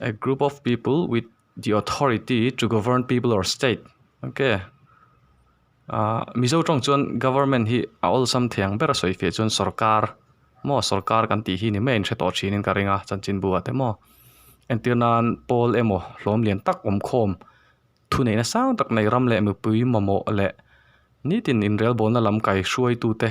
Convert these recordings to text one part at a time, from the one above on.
A group of people with the authority to govern people or state ok ah mizo tawng chuan government hi a awlsam thei ang ber a sawi fia chuan sawrkar maw sawrkar kan tih hi ni mai in hre tawh thin in ka ring a chanchinbu ah te maw entir nan pawl emaw hlawm lian tak awmkhawm thuneihna sang tak nei ram leh mipui mamawh leh nitin inrelbawlna lam kaihruaitu te.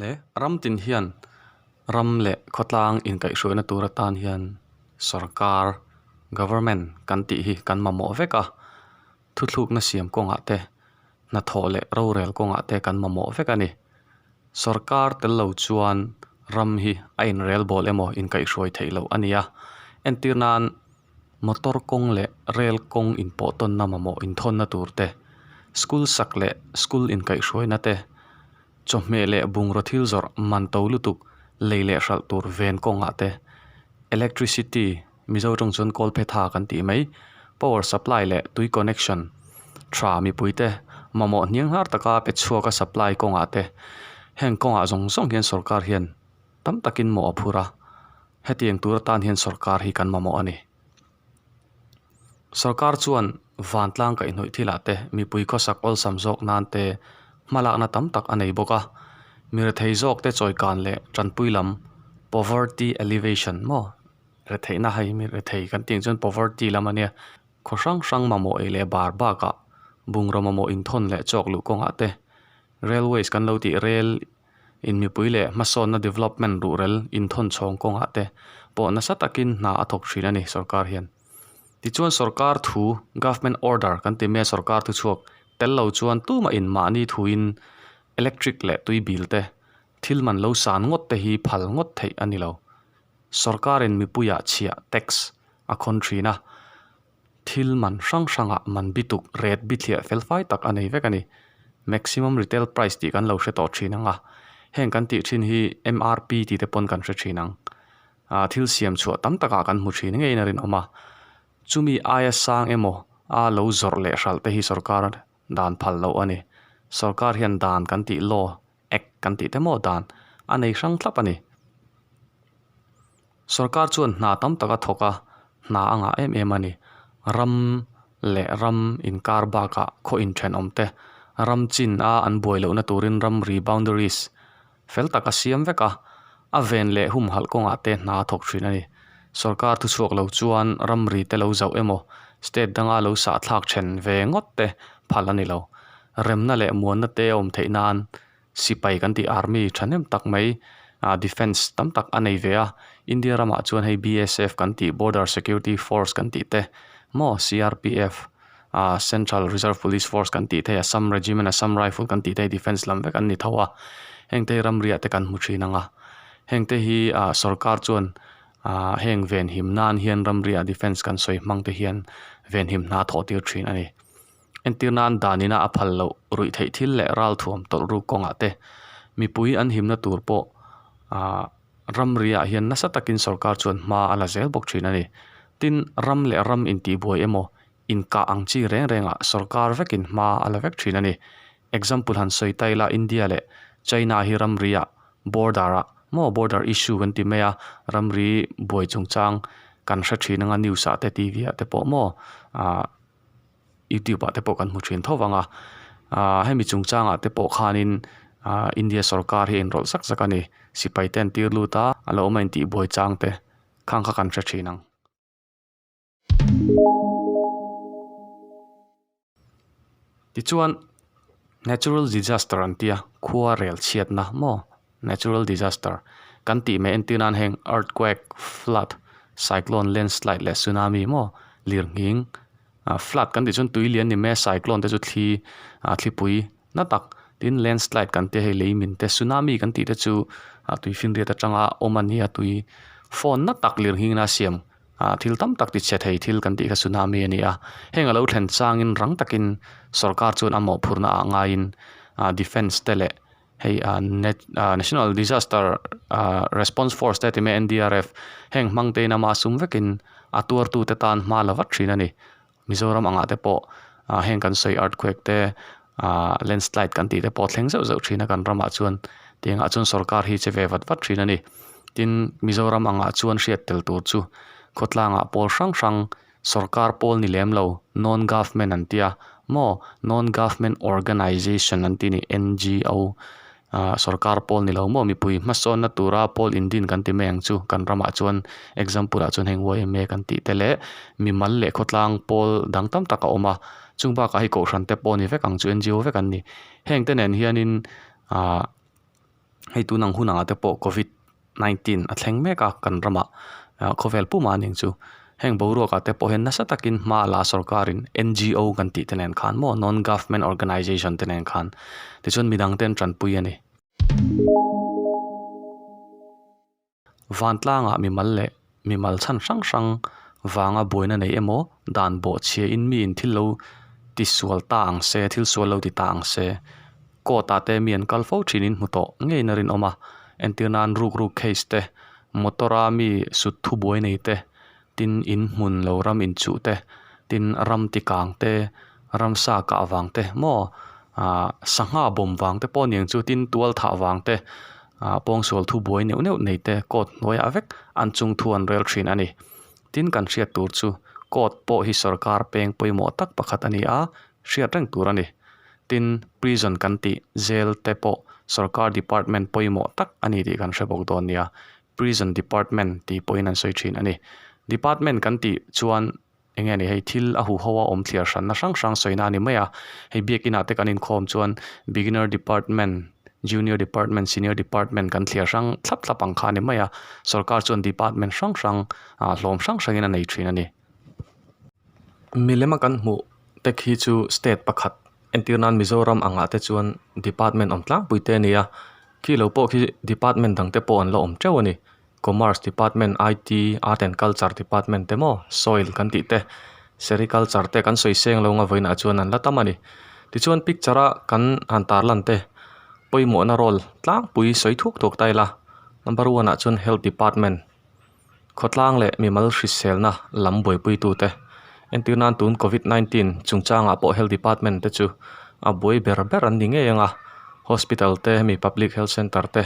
leh ram tin hian ram leh khawtlang inkaihhruaina tur atan hian sorkar government kan tih hi kan mamawh vek a, thuthlukna siam kawngah te hnathawh leh rorel kawngah te kan mamawh vek a ni. Sorkar tel lo chuan ram hi a inrelbawl emaw inkaihhruai theih loh a nia, entir nan Motor kawng leh rail kawng inpawhtawnna mamawh inthawnna tur te, school sak leh school inkaihhruaina te, chawhmeh leh bungraw thil zawrh man to lutuk lei leh hralh tur ven kawngah te, electricity, Mizo tawng chuan kawl phe tha kan tih mai, power supply leh tui connection, tha mipui te, mamawh hniang hnar taka pechhuaka supply kawngah te, heng kawngah zawng zawng hian sorkar hian. Tam takin mawh a phur a, hetiang tur atan hian sorkar hi kan mamawh a ni. Sorkar chuan vantlang kaihnawih thilah te, mipui khawsak awlsam zawk nan te hmalakna tam tak a nei bawk a, mi rethei zawk te chawikan leh tanpui lam, poverty alleviation, maw, retheihna hei mi rethei kan tih ang chuan poverty lam a nia, khaw hrang hrang mamawh ei leh bar bakah, bungraw mamawh inthawn leh chawk luh kawngah te, railways kan lo tih, rail in mipui leh hmasawnna development ruhrel inthawn chhawng kawngah te pawh nasa takin hna a thawk thin a ni sorkar hian. Tichuan sorkar thu, government order, kan ti mai a sorkar thu chhuak tel lo chuan tumahin mahni thuin electric leh tui bil te, thil man lo san ngawt te hi phal ngawt theih a ni lo. Sorkarin mipuiah chhiah, tax, a khawn thin a. Thil man hrang hranga man bituk ret bithliah fel fai tak a nei vek a ni. Maximum Retail Price tih kan lo hre tawh thin ang a, heng kan tih thin hi MRP tih te pawn kan hre thin ang. Aaa thil siam chhuah tam takah kan hmu thin ngeiin a rinawm a. Chumi aia sang emaw aa lo zawrh leh hralh te hi sorkar a. Dan phal loh a ni. Sorkar hian dan kan tih law, act, kan tih te maw dan a nei hrang thlap a ni. Sorkar chuan hna tam tak a thawk a, hna a ngah em em a ni. Ram leh ram inkar bakah khaw inthenawm te, ram chin a an buai lohna turin ram reboundaries Fel tak a siam vek a, a ven leh humhalh kawngah te hna a thawk thin a ni. Sorkar thuchhuak lo chuan ramri te lo zauh emaw, state danga lo sahthlak then ve ngawt te phal a ni lo. Remna leh muanna te a awm theih nan sipai kan tih army thahnem tak mai ah defence tam tak a nei ve a, India ramah chuan hei BSF kan tih border security force kan tih te maw CRPF, ahh Central Reserve Police Force kan tih theih a, Assam Regiment, Assam Rifle kan tih theih a, Defence lam vek an ni tho a, heng te hi ramriah te kan hmu thin ang a, heng te hi ahh sorkar chuan ahh heng venhim nan hian ramriah defence kan sawi hmang te hian venhim hna thawh tir thin a ni. Entir nan dan ina a phal loh ruih theih thil leh ral thuam tawlh ruk kawngah te mipui an himna tur pawh ahh. Ram riah hian nasa takin sorkar chuan hma a la zel bawk thin a ni. Tin, ram leh ram intihbuai emaw, inkah ang chi reng rengah sorkar vekin hma a la vek thin a ni. Example han sawi ta ila India leh China hi ram riah, border, a maw border issue kan ti mai a, ram ri buai chungchang kan hre thin anga news ah te TV ah te pawh maw, aah. YouTube ah te pawh kan hmu thin tho vang a aaa hemi chungchang ah te pawh khanin aaa India sorkar hi enrawlh zak zak a ni sipai te an tir lut a a lo awma intihbuai chang te khang kha kan hre thin ang tichuan natural disaster an tia khuarel chhiatna maw. Natural disaster kan tih mai entir nan heng earthquake, flood, cyclone, landslide leh tsunami emaw lirnghing ah flood kan tih chuan tui lian ni mai a cyclone te chu thli ah thlipui na tak tin landslide kan tia hei lei min te tsunami kan tih te chu ah tui finriat atanga awm a nia tui fawn na tak lirnghing na siam ah thil tam tak tichhe thei thil kan tih kha tsunami a ni a heng a lo thlen changin rang takin sorkar chuan a mawhphurhna ah ngaiin ah defence te leh hei ah nat ah national disaster ah response force te a ti mai a N D R F heng hmang te in a mah sum vek in a tuar tu te tan hma la vat thin a ni Mizoram ang ah te pawh ah heng kan sawi earthquake te ah landslide kan tih te pawh thleng zeuh zeuh thin a kan ram ah chuan ti ang ah chuan sorkar hi che ve vat vat thin a ni tin Mizoram ang ah chuan hriat tel tur chu khawtlang ah pawl hrang hrang Sorkar pawl ni lem lo, non government an tia. Maw? Non government organisation an ti ni, NGO. Ahh sorkar pawl ni lo maw? Mipui hmasawnna tura pawl indin kan ti mai ang chu. Kan ramah chuan example ah chuan heng yma kan tih te leh mi mal leh khawtlang pawl dang tam tak a awm a. Chung bakah hei kohhran te pawh ni vek ang chu NGO vek an ni. Heng te nen hianin ahh hei tun ang hunah te pawh Covid nineteen a thleng mek a kan ramah khawvel pum a ning chu heng boruak ah te pawh hian nasa takin hma la sorkar in n g o kan tih te nen khan maw non government organisation te nen khan tichuan midang te an tanpui a ni. Vantlangah mimal leh mimal chhan hrang hrang vanga buaina nei emaw dan bawh chhia in mi in thil lo ti sual ta ang se thil sual lo ti ta ang se court ah te mi an kal fo thin in hmu tawh ngei in a rinawm a entir nan ruk ruk case te motor a mi sutthu buai nei te Tin in hmun lo ram in chuh te, tin ram ti kang te, ram sa kah vang te maw, ah, sangha bawm vang te pawh ning chu tin tual thah vang te, ah, pawngsual thu buai neuh neuh nei te court hnuaiah vek an chung thu an rel thin a ni. Tin kan hriat tur chu court pawh hi sorkar peng pawimawh tak pakhat a ni a, hriat reng tur a ni. Tin, prison kan tih, jail te pawh sorkar department pawimawh tak a ni tih kan hre bawk dawn nia, Prison Department tih pawhin an sawi thin a ni. Department kan tih chuan eng nge ni hei thil a hu ho a awm thliar hran na hrang hrang sawi na a ni mai a. Hei biak inah te kan inkhawm chuan Beginner Department, Junior Department, Senior Department kan thliar hrang thlap thlap ang kha a ni mai a. Sorkar chuan Department hrang hrang ah hlawm hrang hrangin a nei thin a ni. Milem a kan hmuh te khi chu State pakhat Entîr nân Mizoram angah te chuan department awm tlangpui te a ni a, khi lo pawh khi department dangte pawh an la awm ṭeuh a ni. Commerce department, IT, Art and Culture department te maw, Soil kan tih te, Sericulture te kan sawi sêng lo nga vawiin ah chuan an la tam a ni. Tichuan picture a kan han târ lan te pawimawhna role tlangpui sawi thuk tawk ta ila number one ah chuan Health department. Khawtlang leh mimal hriselna lam buaipuitute, entir nan tun Covid nineteen chungchangah pawh Health Department te chu a buai ber ber an ni ngei ang a, hospital te hemi public health centre te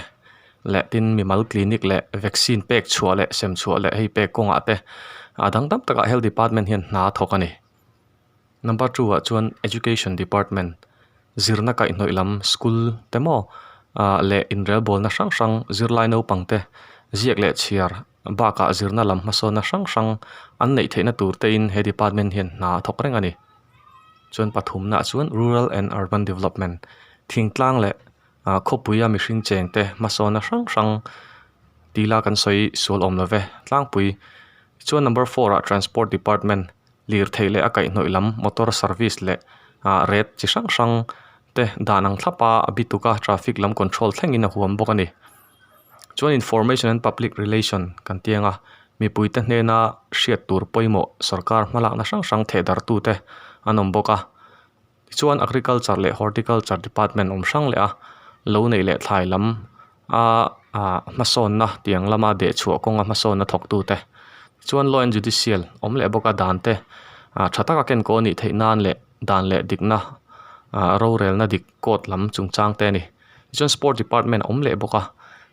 leh tin mimal clinic leh vaccine pek chhuah leh sem chhuah leh hei pek kawngah te a dang dang takah Health Department hian hna a thawk a ni. Number two ah chuan education department zirna kaihnawih lam school te maw ah leh inrel bawlna hrang hrang zirlai naupang te ziak leh chhiar bakah zirna lam hmasawnna hrang hrang an neih theihna tur te in he department hian hna a thawk reng a ni. Chuan pathumna ah chuan rural and urban development thingtlang leh ah khawpui a mihring cheng te hmasawnna hrang hrang tila kan sawi sual awm lo ve tlangpui. Chuan number four ah transport department. lirthei leh a kaihnawih lam motor service leh ah ret chi hrang hrang te dan ang thlap a a bituk a traffic lam control thlengin a huam bawk a ni chuan information and public relation kan tih anga mipui te hnena hriat tur pawimawh sorkar hma lakna hrang hrang thehdartu te an awm bawk a. Tichuan, Agriculture leh Horticulture Department awm hrang leha lo neih leh thlai lam a hmasawnna tiang lama dehchhuah kawnga hmasawnna thawktute, tichuan Law and Judicial awm leh bawka dante tha taka kenkaw anih theih nan leh dan leh dikna rorelna dik court lam chungchangte a ni. Tichuan Sport Department a awm leh bawk a,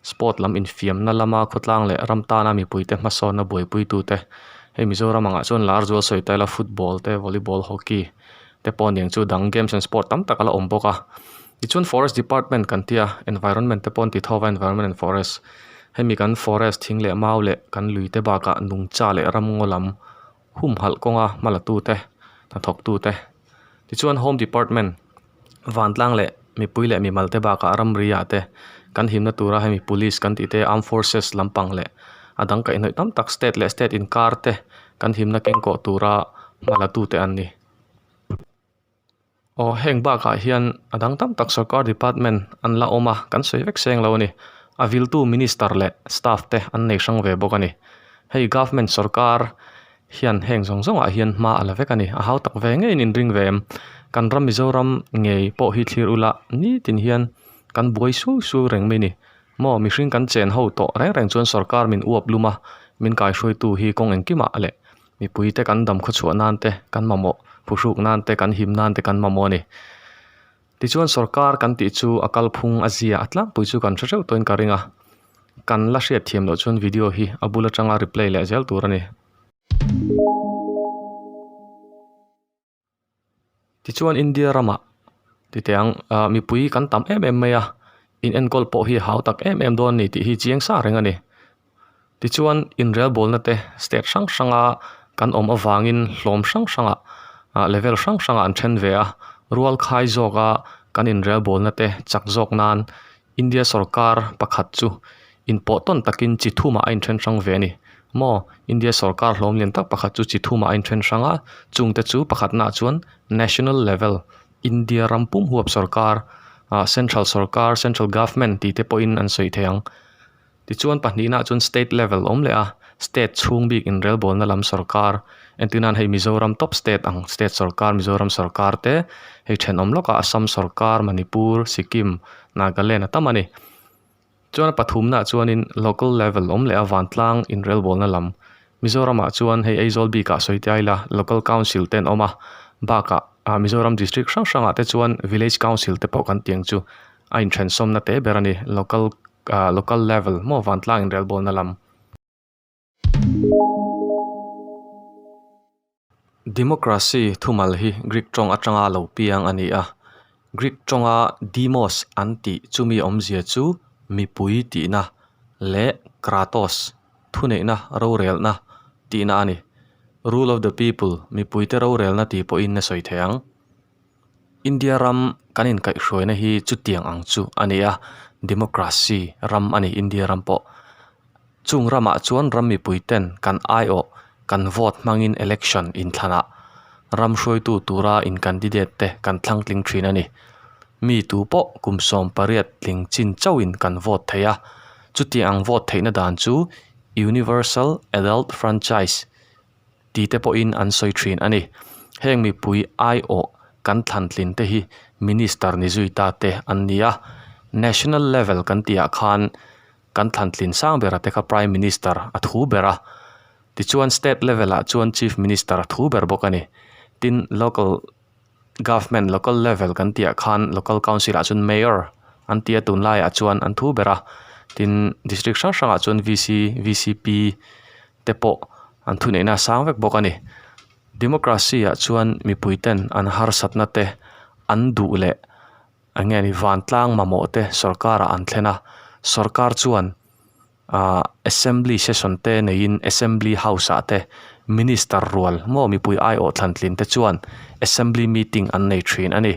Sport lam infiamna lama khawtlang leh ram tana mipuite hmasawnna buaipui-tute hei Mizoram angah chuan lar zual sawi ta ila Football te Volleyball Hockey te pawh aniang chu dang Games and Sport tam tak ala awm bawk a, tichuan Forest Department kan tia Environment te pawh an ti tho va Environment and Forest hemi kan Forest thing leh mau leh kan lui te bakah nungcha leh ramngaw lam. humhalh kawnga hmalatute, hnathawktute, tichuan Home Department, vantlang leh mipui leh mimalte bakah a ramriah te, kan himna tura hemi Police kan tih te, Armed Forces lampang leh a dangkaihnawiih tam tak State leh State inkarte kan himna kengkawh tura hmalatute an ni. Aw heng bakah hian a dang tam tak sorkar department an la awm a kan sawi vek seng lo a ni. A viltu minister leh staff te an nei hrang ve bawk a ni. Hei government sorkar hian heng zawng zawng ah hian hma a la vek a ni. A hau tak ve ngeiin in ring ve em? Kan ram Mizoram ngei pawh hi thlir ula nitin hian kan buai sui sui reng mai ni. Maw mihring kan chen ho tawh reng reng chuan sorkar min uap lum a min kaihruaitu hi kawng engkimah leh Mipui te kan dam khawchhuah nan te kan mamawh, phuhruk nan te kan him nan te kan mamawh a ni. Tichuan sorkar kan tih chu a kalphung a zia a tlangpui chu kan hre hreuh tawhin ka ring a, kan la hriat thiam loh chuan video hi a bul atanga reply leh zel tur a ni. Tichuan India rama titiang ah mipui kan tam em em mai a, inenkawl pawh hi a hau tak em em dawn a ni tih hi chiang sa reng a ni. Tichuan inrelbawlna te state hrang hranga kan awm avangin hlawm hrang hrangah ah level hrang hrangah an then ve a, rualkhai zawka kan inrelbawlna te chak zawk nan-- India sorkar pakhat chu in pawh tawn takin chi thum ah a in then hrang ve a ni maw? India sorkar hlawm lian tak pakhat chu chi thum ah a in then hrang a, chung te chu pakhat na ah chuan national level India ram pum huap sorkar ahh central sorkar central government tih te pawh in an sawi thei ang. Tichuan pahnihna chuan state level awm leh a, state chhung bik inrelbawlna lam sawrkar entinah hei Mizoram top state ang state sawrkar Mizoram sawrkar te hei thenawm lawka Assam sawrkar, Manipur, Sikkim, Nagaland a tam a ni. Chuan a pathumna chuanin local level awm leh a vantlang inrelbawlna lam Mizoramah chuan hei Aizawl bika sawitia ila local council te an awm a, bakah Mizoram district hrang hrangah te chuan village council te pawh kan tih ang chu a inthensawmna te ber a ni local Ahh local level maw vantlang inrelbawlna lam. Democracy thumal hi Greek tawng atanga lo piang a ni a. Greek tawnga demos an tih chumi awmzia chu mipui tihna leh kratos thuneihna rorelna tihna a ni. Rule of the people mipuite rorelna tih pawhin a sawi thei ang. India ram kan inkaihhruaina hi chutiang ang chu a ni a, democracy ram a ni India ram pawh. Chung ramah chuan ram mipui ten kan aiawh, kan vote hmangin election inthlanah ram hruaitu tura in candidate te kan thlangtling thin a ni. Mi tu pawh kum sawm pariat tling chin chauhin kan vote thei a. Chutiang ang vote theihna dan chu universal adult franchise. tite pawhin an sawi thin a ni. Heng mipui aiawh kan thlantlin te hi Minister ni zui ta te an ni a. National level kan tih ah khan kan thlantlin sang ber a te kha Prime Minister a thu ber a. Tichuan State level ah chuan Chief Minister a thu ber bawk a ni. Tin local government, local level kan tih ah khan local council ah chuan Mayor an ti a, tun lai ah chuan an thu ber a. Tin District hrang hrang ah chuan VC, VCP, te pawh an thu neihna a sang vek bawk a ni. Democracy ah chuan mipui ten an harsatna te an duh leh eng nge ni vantlang mamawh te sorkar ah an thlen a, sorkar chuan aah assembly session te nei in assembly house ah te minister rual maw mipui aiawh thlantlin te chuan assembly meeting an nei thin a ni.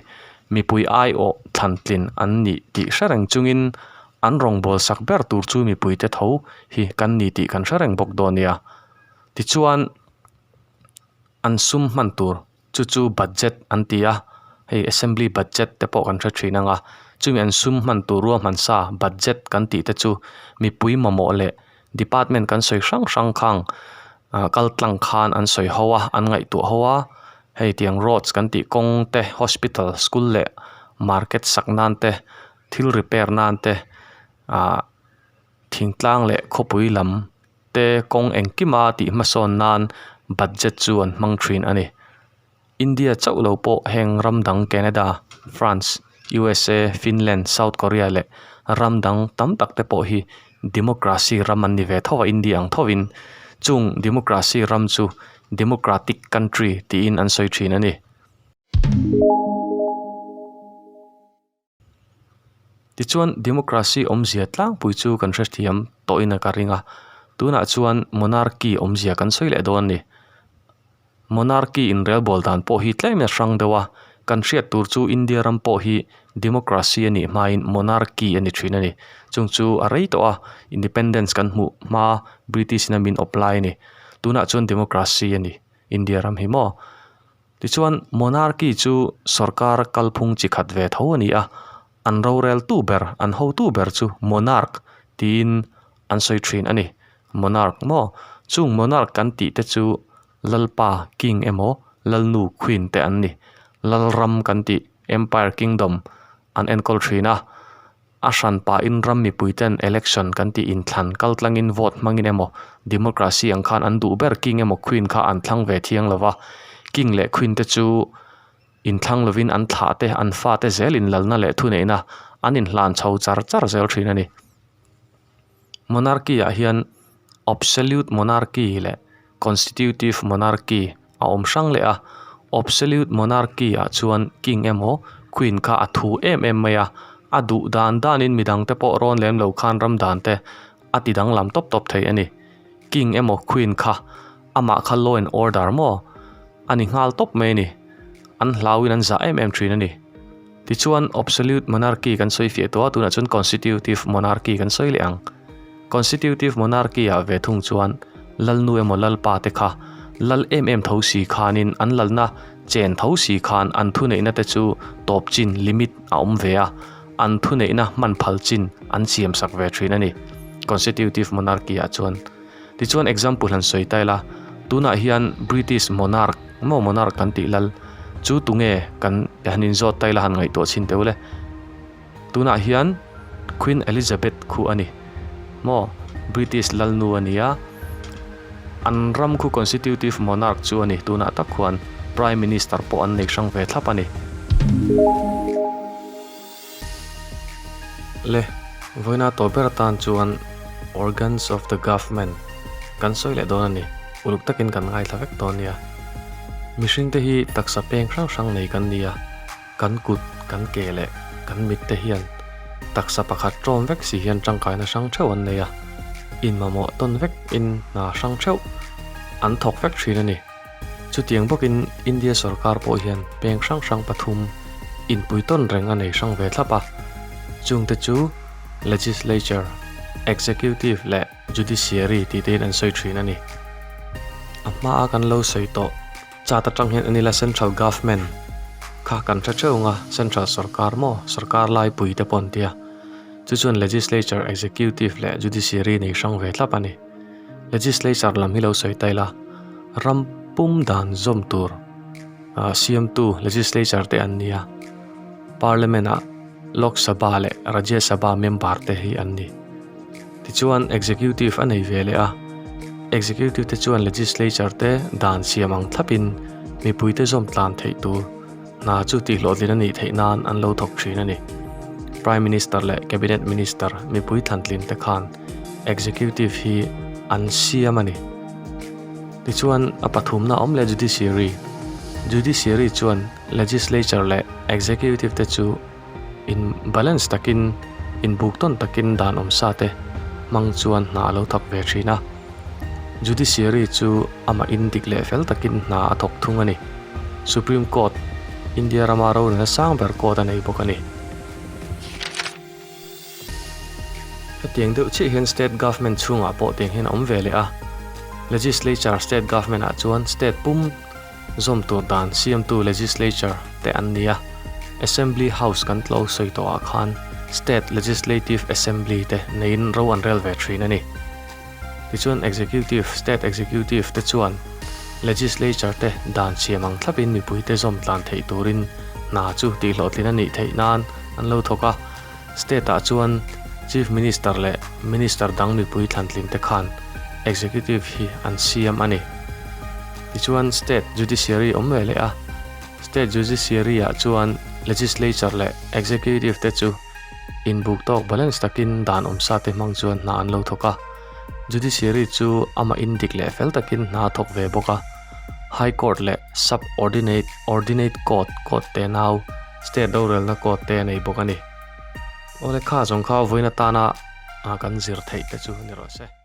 Mipui aiawh thlantlin an nih tih hre reng chung in An rawngbâwl sak ber tur chu mipuite tho hi kan ni tih kan hre reng bawk dawn nia. Tichuan, an sum hman tur chu chu budget an ti a, hei Assembly budget te pawh kan hre ṭhin ang a. Chumi an sum hman tur ruahmansa budget kan tih te chu mipui mamawh leh Department kan sawi hrang hrang khang kal tlang khan an sawi ho a, an ngaihtuah ho a. Hei tiang roads kan tih, kawng te, hospital, school leh market sak nan te, thil repair nan te ah thingtlang leh khawpui lam te kawng engkima tih hmasawn nan budget chu an hmang thin a ni India chauh lo pawh heng ram dang Canada France usa Finland South Korea leh ram dang tam tak te pawh hi democracy ram an ni ve tho a India ang tho in chung democracy ram chu democratic country tiin an sawi thin a ni. Tichuan, democracy awmzia tlangpui chu kan hrethiam tawhin a ka ring a, tunah chuan monarchy awmzia kan sawi leh dawn a ni. Monarchy inrelbawl dan pawh hi tlem nasa hrang deuh a, kan hriat tur chu India ram pawh hi democracy a nih hmain monarchy a ni thin a ni. Chung chu a rei tawh a, independence kan hmuh hma British-ina min awp lai a ni. Tunah chuan democracy a ni India ram hi maw. Tichuan, Monarchy chu sorkar kalphung chi khat ve tho a ni a, an roreltu ber, an hotu ber chu Monarch tiin an sawi thin a ni. Monarch maw? Chung Monarch kan tih te chu Lalpa, King, emaw Lalnu, Queen, te an ni. Lalram kan tih, Empire, Kingdom, an enkawl thin a. A hran pahin ram mipui ten election kan tih inthlan kal tlangin vote hmangin emaw, democracy ang khan an duh ber king emaw queen kha an thlang ve thiang lo va, king leh queen te chu inthlang lovin an thlah te an fate zel inlalna leh thuneihna an inhlan chho char char zel thin a ni. Monarchy ah hian Absolute Monarchy leh Constitutive Monarchy a awm hrang leh a. Absolute Monarchy ah chuan King emaw Queen kha a thu em em mai a, a duh dan dan in mi dang te pawh rawn lem lo khan ram dan te a ti danglam tawp tawp thei a ni. King emaw Queen kha-- Amah kha law and order maw a ni nghal tawp mai a ni, an hlauin an zah em em thin a ni. Tichuan obsolute monarchy kan sawi fiah tawh a, tunah chuan constitutive monarchy kan sawi leh ang. Constitutive monarchy ah ve thung chuan Lalnu emaw Lalpa te kha Lal em em tho si khanin an Lalna chen tho si khan an thuneihna te chu tawp chin, limit, a awm ve a, an thuneihna hman phal chin an siamsak ve thin a ni constitutive monarchy ah chuan. Tichuan example han sawi ta ila, tunah hian British monarch, maw monarch kan tih lal, chu tunge kan han inzawt ta ila han ngaihtuah chhin teuh le. Tunah hian Queen Elizabeth khu a ni maw, British lalnu a nia, an ram khu constitutive monarch chu a ni, tunah tak khuan Prime Minister pawh an nei hrang ve thlap a ni. Le vawiina tawh ber atan chuan organs of the government kan sawi leh dawn a ni. Uluk takin kan ngaithla vek dawn nia. Mihring te hi taksa peng hrang hrang nei kan nia. Kan kut, kan ke leh kan mit te hian taksa pakhat tawm vek si hian tangkaina hrang theuh an nei a. Inmamawh tawn vekin hna hrang theuh an thawk vek thin a ni. Chutiang bawkin India sorkar pawh hian peng hrang hrang pathum inpui tawn reng a nei hrang ve thlap a. Chungte chu Legislature, Executive leh Judiciary tih tein an sawi thin a ni. A hmaa kan lo sawi tawh chat atang hian a nila Central Government kha kan hre teuh ang a, Central sorkar maw, sorkar laipuite pawh an tia. Chu chuan Legislature, Executive leh Judiciary nei hrang ve thlap a ni. legislature lam hi lo sawi ta ila ram pum dan zawm tur ah siamtu legislature te an nia parliament ah lok saba leh rajya saba member te hi an ni tichuan executive a nei ve leh a executive te chuan legislature te dan siam ang thlapin mipuite zawm tlan theih tur-- Hna chu tihhlawhtlin a nih theih nan an lo thawk thin a ni. Prime Minister leh Cabinet Minister mipui thlantlin te khan Executive hi an siam a ni. Tichuan a pathumna awm leh Judiciary, Judiciary chuan Legislature leh Executive te chu, In balance takin, in buk tawn takin dan awm sa te hmang chuan hna a lo thawk ve thin a. Judiciary chu amah in dik leh fel takin hna a thawk thung a ni. Supreme Court, India rama rorina sang ber court a nei bawk a ni. Hetiang deuh chiah hian state government chhungah pawh tiang hian a awm ve leh a. Legislature, state government ah chuan state pum, Zawmtu dan siamtu legislature te an ni a, Assembly House kan tlo sawi tawh ah khan State Legislative Assembly te neiin ro an rel ve thin a ni. Tichuan Executive, State Executive te chuan Legislature te dan siam ang thlap in mipui te zawm tlan theih turin hna chu tihhlawhtlin a nih theih nan an lo thawk a, State-ah chuan Chief Minister leh Minister dang mipui thlanthlingte khan Executive hi an siam a ni. Tichuan State Judiciary awm ve leh a. State Judiciary-ah chuan Legislature leh Executive te chu inbuk tawk balance takin dan awmsa te hmang chuan hna an lo thawk a. Judiciary chu ama indik leh fel takin hna a thawk ve bawk a. High Court leh Subordinate, Ordinate Court, Court te nau, State dorelna code te a nei bawk a ni. Aw lekha zawng kha vawiin atana kan zir theih te chu ni rawh se.